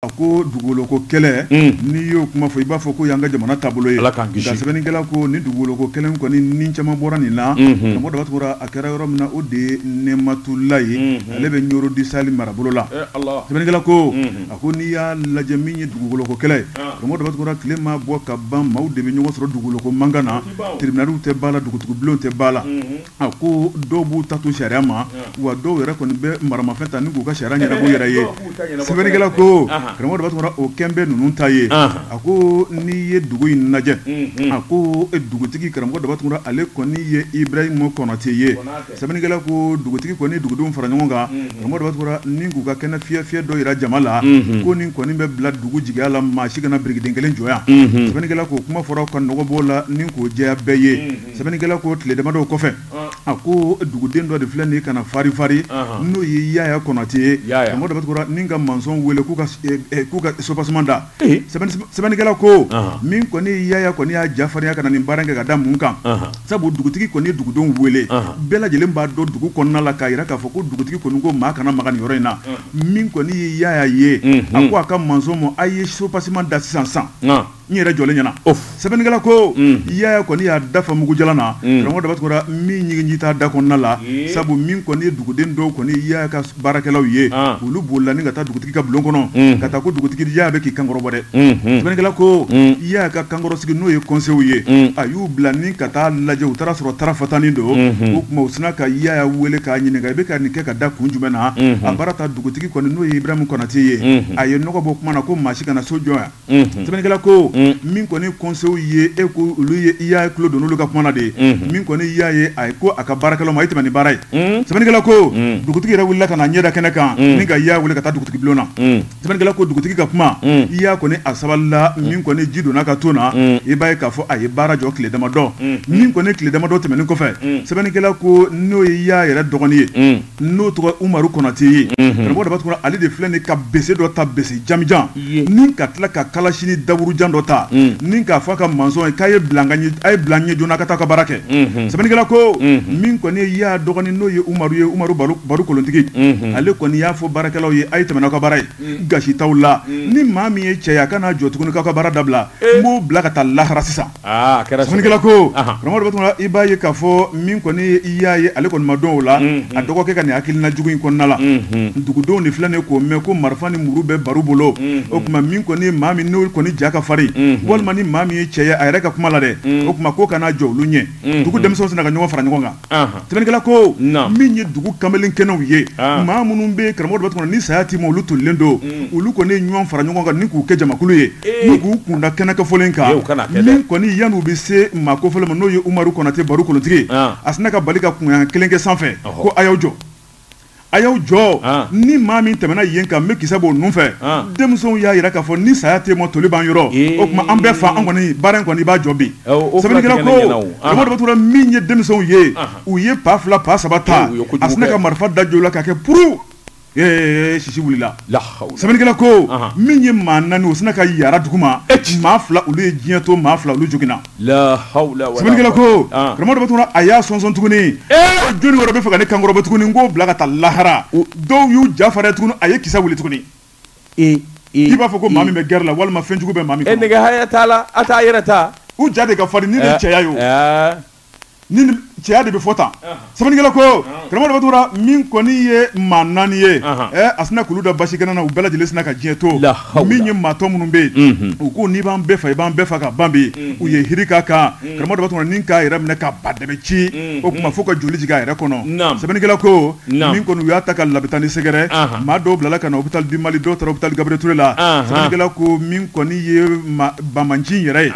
a ko dugukoloko kɛlɛ hmm. n'i y'o kuma fɔ i b'a fɔ ko y'an ka jamana taabolo ye nka sɛbɛnnikɛla ko ni dugukoloko kɛlɛ kɔni ni caman bɔra nin na hmm. karamɔgɔ daba tunkara a kɛra yɔrɔ min na o de ye nɛmatula ye hmm. ale bɛ ɲoro du sahɛli marabolo la eh, sɛbɛnnikɛla ko a ko n'i y'a lajɛ min ye dugukoloko kɛlɛ ye ah. karamɔgɔ daba tunkara tile ma bɔ ka ban maaw de bɛ ɲɔgɔn sɔrɔ dugukoloko mankan na tribunaliw tɛ b'a la dugutigibulonw tɛ b'a la A ko dɔw b'u ta to sariya ma wa dɔw yɛrɛ kɔni bɛ maramafɛn ta k'u ka sariya ɲɛnabɔ yɛrɛ ye sɛbɛnnikɛla ko karamɔgɔ daba tunkara o kɛlen bɛ ninnu ta ye a ko n'i ye dugu in lajɛ a ko dugutigi karamɔgɔ daba tunkara ale kɔni ye ibrahima kɔnatɛ ye sɛbɛnnikɛla ko dugutigi kɔni dugudenw fara ɲɔgɔn kan karamɔgɔ daba tunkara ni k'u ka kɛnɛ fiyɛ dɔ jira jama la ko nin kɔni bɛ bila dugu jigiya la maa si kana birikiden kelen jɔ yan sɛbɛnnikɛla k'o kuma fɔra ka nɔgɔ b'o la ni k'o jɛya bɛɛ ye sɛbɛnnikɛla ko tile damadɔw kɔfɛ a ko duguden dɔ de filɛ nin ka na farifari n'o ye yaaya kɔnatɛ ye karamɔgɔ daba tunkara ni ka mansɔnw wele k'u eh, eh, k'u ka subaseman da sɛbɛnnikɛla ko min kɔni ye yaaya kɔni y'a jafarinya ka na nin baara kɛ ka da mun kan sabu dugutigi kɔni ye dugudenw wele bɛɛ lajɛlen b'a dɔn dugu kɔnɔna la k'a jira k'a fɔ ko dugutigi kɔni ko maa kana maga nin yɔrɔ in na min kɔni ye yaaya ye a ko a ka mansɔn ma a ye subaseman da sisan san n yɛrɛ jɔlen ɲɛna sɛbɛnnikɛla ko mm. yaya kɔni y'a dafa mugujalan na mm. karamɔgɔ daba tunkara min ɲiginji t'a da kɔnɔna la sabu min kɔni ye duguden dɔw kɔni yaya ka baarakɛlaw ye ah. olu bolila ni ka taa dugutigi ka bulon kɔnɔ mm. ka taa ko dugutigi yaya bɛ k'i kankɔrɔbɔ dɛ mm-hmm. sɛbɛnnikɛla ko yaya ka kankɔrɔsigi n'o ye kɔnsew ye a y'u bila ni ka taa lajɛ u taara sɔrɔ tara fatanin don mm-hmm. o tuma u sina ka yaya wele k'a ɲininka i bɛ ka nin kɛ ka da kun jumɛn na mm-hmm. a baara ta dugutigi kɔni n'o ye ibrahima kɔnatɛ ye a ye nɔgɔ bɔ kuma na ko maa si kana so jɔ yan sɛbɛnnikɛla ko min kɔni kɔnsew ye e ko olu ye yaya tulo don olu ka kuma na de min kɔni yaya ye a ye ko a ka baarakɛlaw ma a ye tɛmɛ ni baara ye sɛbɛnnikɛla ko dugutigi yɛrɛ wulila ka na ɲɛda kɛnɛ kan ni ka yaya wele ka taa dugutigi bulon na sɛbɛnnikɛla ko dugutigi ka kuma yaya kɔni a sabalila min kɔni ji donna ka to na i b'a ye k'a fɔ a ye baara jɔ tile damadɔ min kɔni tile damadɔ tɛmɛnen kɔfɛ sɛbɛnnikɛla ko n'o ye yaya yɛrɛ dɔgɔnin ye n'o tɔgɔ umaru kɔnatɛ ye karamɔgɔ daba tunkara ale de filɛ nin ka bese dɔ ta bese jamanjan ni ka tila ka kalasinin daburujan dɔ ta ni k'a fɔ a ka mansɔn ye k'a ye bila n ɲɛ joona ka taa ka baara kɛ sɛbɛnnikɛla ko min kɔni ye yaya dɔgɔnin n'o ye umaru ye umaru baru kolontigi ale kɔni y'a fɔ baarakɛlaw ye a ye tɛmɛ n'aw ka baara ye gasi t'aw la ni maa min ye cɛ ye a ka n'a jɔ tuguni k'aw ka baara dabila n b'o bila ka taa lahara sisan Aa a kɛra sa. Sɛbɛnnikɛla ko. Ahan. Karamɔgɔ Daba Tunkara, i b'a ye k'a fɔ min kɔni ye Yaya ye ale kɔni ma don o la. Unhun. A dɔgɔkɛ ka nin hakilina jugu in kɔnɔna la. Unhun. Dugudenw de filɛ nin k'o mɛn ko marifa ni muru bɛ Baru bolo. Unhun. O tuma min kɔni ye maa min n'o kɔni ja ka farin. Unhun. Walima ni maa min ye cɛ ye a yɛrɛ ka kuma la dɛ. Unhun. O tuma k'o ka na jɔ olu ɲɛ. Unhun. Dugu denmisɛnw sina ka ɲɔgɔn fara ɲɔgɔn kan. Sɛbɛnnikɛla ko min ye dugu kamalen kɛnɛw ye maa minnu bɛ karamɔgɔ daba tunkara ni saya tɛ ma olu tolilen don olu kɔni ɲɔgɔn fara ɲɔgɔn kan ni k'u kɛ jamakulu ye ni k'u kunda kɛnɛ kofɔlen kan min kɔni yann'u bɛ se maa kofɔlen ma n'o ye umaru konatɛ baru kolontigi a sina ka bali ka kunkan kelen kɛ sanfɛ ko a y'aw jɔ a y'aw jɔ ah. ni maa min tɛmɛna yen kan n bɛ kisɛ b'o nun fɛ ah. denmisɛnw y'a jira k'a fɔ ni saya tɛ maa toli b'an yɔrɔ eh. o tuma an bɛɛ fa an kɔni baara in kɔni i b'a jɔ bi eh, sɛbɛnnikɛla ko karamɔgɔ daba tunkara min ye denmisɛnw ye ah. u ye pa fila pa saba ta eh, a sinna ka marifa da j'o la k'a kɛ puru sisi wulila sɛbɛnnikɛla ko min ye maa naani o sinna ka yara duguma maa fila olu ye diɲɛ to maa fila olu joginna Sɛbɛnnikɛla ko karamɔgɔ daba tunkara a y'a sɔnsɔn tuguni jɔnni wɛrɛ bɛ fɛ ka ne kankɔrɔbɔ tuguni n k'o bila ka taa lahara dɔw y'u jafarinya tuguni a ye kisɛ wuli tuguni i b'a fɔ ko maa min bɛ gɛrɛ la walima fɛnjugu bɛ maa min nɛgɛ haya t'a la a t'a yɛrɛ ta u ja de ka farin ni cɛya ye ni cɛya de bɛ fɔ tan sɛbɛnnikɛla ko karamɔgɔ daba tunkara min kɔni ye maa naani ye a sina k'olu da basi kɛnɛ na u bɛɛ lajɛlen sina ka diɲɛ to min ye maa tɔ minnu bɛ yen u ko n'i b'an bɛɛ fa i b'an bɛɛ fa ka ban bi u ye hiri k'a kan karamɔgɔ daba tunkara ni k'a yɛrɛ minɛ ka ba dɛbɛ ci o tuma fo ka joli jigin a yɛrɛ kɔnɔ sɛbɛnnikɛla ko min kɔni u y'a ta ka labitani sɛgɛrɛ maa dɔw bilala ka na hôpital du Mali dɔw hôpital Gabriel Touré la sɛbɛnnikɛla ko min kɔni ye banbaanci yɛrɛ ye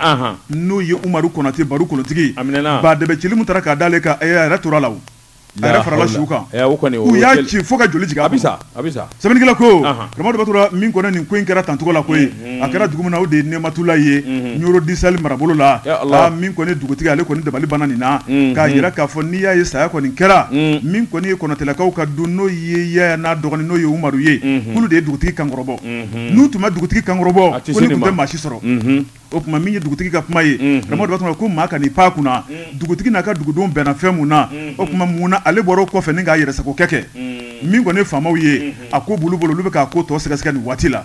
n'o ye umaru konatɛ baru kolontigi ba dɛbɛ cili min taara k'a d'ale kan a yɛrɛ tora la a yɛrɛ farala suw kan u y'a ci fo ka joli a bɛ sa a bɛ sa sɛbɛnnikɛla ko karamɔgɔ daba tunkara min kɔni nin ko in kɛra tancogo la ko a kɛra dugu min na o de ye nɛmatulaye Nioro du Sahel marabolo la min kɔni dugutigi ale kɔni dabali banna nin na k'a jira k'a fɔ n'i y'a ye saya kɔni kɛra min kɔni ye konatɛlakaw ka du n'o ye yaya n'a dɔgɔnin n'o ye umaru ye k'olu de ye dugutigi kankɔrɔbɔ n'u tun ma dugutigi kankɔrɔbɔ ko nin tun tɛ maa si sɔrɔ o tuma min ye dugutigi ka kuma ye karamɔgɔ daba tunkara ko maa kan'i pan kunna dugutigi n'a ka dugudenw bɛnna fɛn mun na o tuma mun na ale bɔra o kɔfɛ ni k'a yɛrɛsagokɛ kɛ min kɔni faamaw ye a ko b'olu bolo olu bɛ k'a ko tɔ sɛgɛsɛgɛ nin waati la